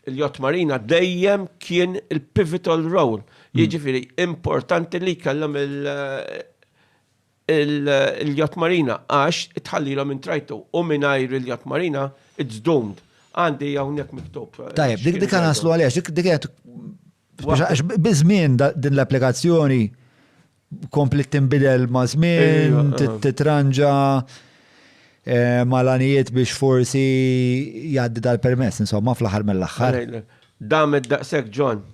il-Yacht Marina dejjem kien il-pivotal role, hmm. jiġifieri importanti li kellhom il-Yacht Marina għax tħallilhom intrajtu u mingħajr il-Yacht Marina it's doomed. Għandi hawnhekk miktub. Tajjeb, dik dik naslu għaliex, dik dik Għax biż-żmien din l-applikazzjoni komplet tinbidel ma' żmien, titranġa eh, malanijiet biex forsi jgħaddi dal-permess, insomma, fl-aħħar mill-aħħar. Dam id-daqsek, John.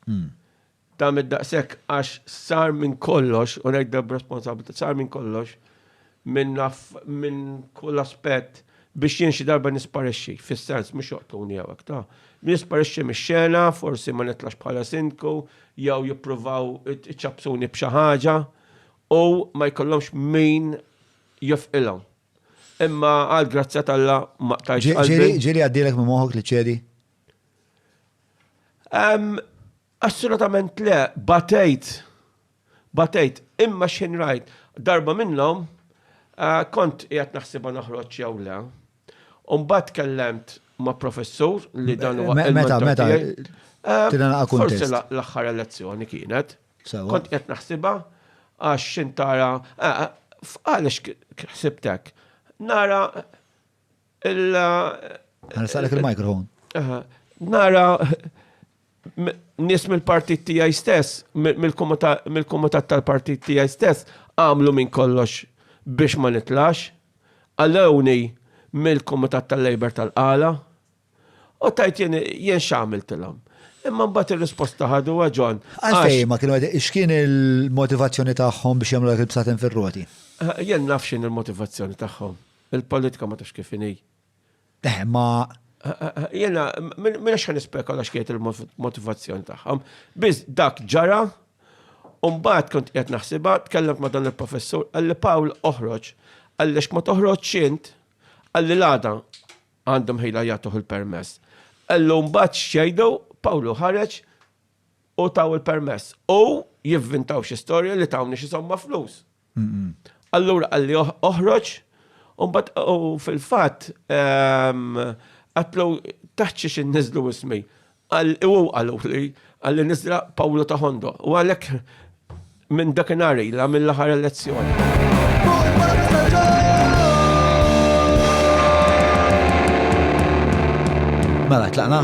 Hmm. Dam id-daqsek għax sar minn kollox, u ngħidda b'responsabilità, sar minn kollox minn minn kull aspett biex jien xi darba nisparixxi, fis-sens mhux joqtulni jew hekk, ta. Nisparixxi mix-xena, forsi ma nitlax bħala sindku, jew jippruvaw iċappsuni b'xi ħaġa u ma jkollhomx min jofqilhom. Imma għal grazzja t'Alla ma qtajtx qalbi. Ġieli għaddielek minn moħħok li ċċedi? Assolutament le, batejt, batejt, imma x'ħin rajt, darba minnhom kont qiegħed naħsibha noħroġ jew le, u mbagħad tkellemt ma' professur li dan huwa Meta, meta, tirana kuntest. Forsi l-aħħar elezzjoni kienet. Kont qed naħsibha għax x'intara, għaliex ħsibtek, nara Illa. Għal-salek il-mikrofon. Nara nis mill-partit tijaj stess, mill-komitat tal-partit tijaj stess, għamlu minn kollox biex ma nitlax, għallewni mill-komitat tal-Labor tal-qala, U tajt jien jien x'għamiltilhom. Imma mbagħad ir-risposta ħadu ġon. Għalfej ma kienu x'kien il-motivazzjoni tagħhom biex jagħmlu dak il-bsaten fir-roti? Jien naf x'in il-motivazzjoni tagħhom. Il-politika ma tafx kif inhi. Eh, ma Jena, minna xħan ispekola xkiet il-motivazzjoni tagħhom. Biz dak ġara, Umbat kont qed naħsibha, tkellimt ma' dan il-professur, għalli Pawl oħroġ, għalli ma toħroġ xint, għalli l-għada, Għandhom ħila jagħtuh il-permess. Qallu mbagħad x'jgħidu, Pawlu ħareġ u taw il-permess. U jivvintaw xi storja li tawni xi somma flus. Allura qalli oħroġ, u fil-fatt ehm, għatlu taħċi xi nizlu ismi. Qal li hu qallu li qalli nisdra Pawlu ta' Hondo u għalhekk minn dakinhar ilha mill-aħħar elezzjoni. Mela, tlaqna?